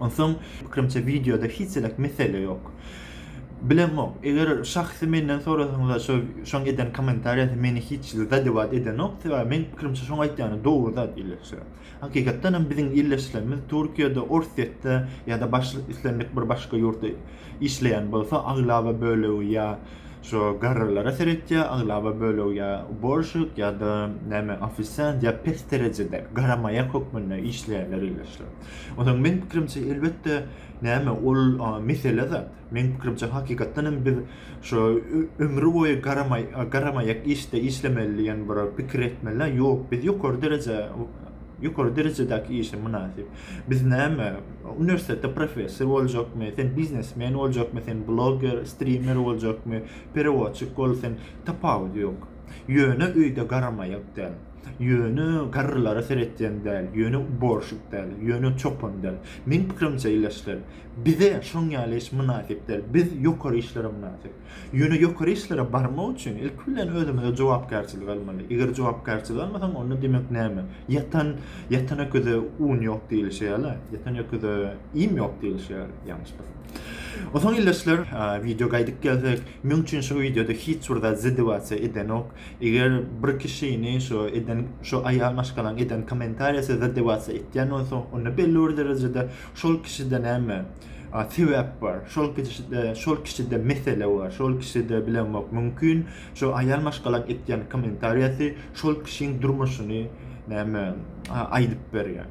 Onsoň pikrimçe wideoda hiç elek mesele ýok. Bilemok, eger şahsy menden sorasaňyzlar şo şoň eden komentariýasy meni hiç zadewaat edenok, sebäbi meň pikrimçe şoň aýtýany dogry zat illeşýär. Hakykatdan hem biziň illeşilenimiz Türkiýede, Orsýetde ýa-da baş islendik bir başga ýurtda işleýän bolsa aglaba bölegi ýa Şo garrylara seretýär, aglaba bölegi ýa uborşik ýa-da näme ofisiant ýa pes derejede, garamaýa hökmünde işleýärler ildeşler. Onsoň meň pikirimçe, elbetde, näme, ol mesele zat. Meň pikirimçe, hakykatdan hem biz şo ömri boýy garamaý garamaýak işde işlemeli diýen bir pikir etmeli-ä. Ýok, biz ýokary dereje ýokary derejedäki işe mynasyp. Biz näme, Uniwersitetde professor boljakmy, sen biznesmen boljakmy, sen blogger, strimer boljakmy, perewodçik bol, sen tapawudy ýok. Ýöne öýde garamaýak däl. Ýöne garrylara seretýän däl, ýöne uborşik däl, ýöne çopan däl. Meň pikirimçe, ildeşler, bize şoň ýaly iş mynasyp däl. Biz ýokary işlere mynasyp. Ýöne ýokary işlere barmak üçin ilki bilen özümize jogapkärçilik almaly. Eger jogapkärçilik almasaň, onda demek näme? Ýatan, ýatan öküze un ýok diýlişi ýaly, ýatan öküze iým ýok diýlişi ýaly, ýalňyşmasam. Onsoň ildeşler, wideo gaýdyp gelsek, meň üçin şu wideoda hiç bir zat ziddiwasiýa edenok. Eger bir kişini şu eden, şu aýal maşgalaň eden kommentariýasy ziddiwasiýa etýän bolsa, onda belli bir derejede şol kişide näme? A sebäp bar. Şol kişide, şol kişide mesele bar. Şol kişide bilemok mümkin. Şo aýal maşgalaň etýän kommentariýasy şol kişiň durmuşyny näme aýdyp berýär.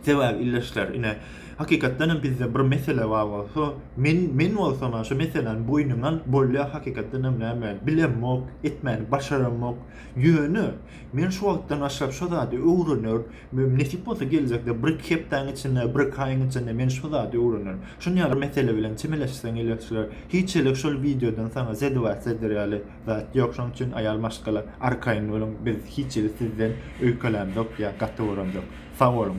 Sebäbi ildeşler ine hakykatdan hem bizde bir mesele bar bolsa, men men bolsam şo meseläni boýnuna alyp bolýar hakykatdan hem näme bilemok, etmäni başaramok. Ýöne Men şu wagtdan başlap şo zady öwrener, nesip bolsa geljekde bir-iki hepdäň içinde, bir-iki aýyň içinde men şo zady öwrenerin. Şun ýaly mesele bilen çemeleşseň elewçiler, hiçelik şol wideodan saňa zedebat zeder ýaly zat ýok, şonuň üçin aýal maşgala arkaýyn boluň, biz hiç hili sizden öýkelämzok ýa gaty bolamzok. Sag boluň.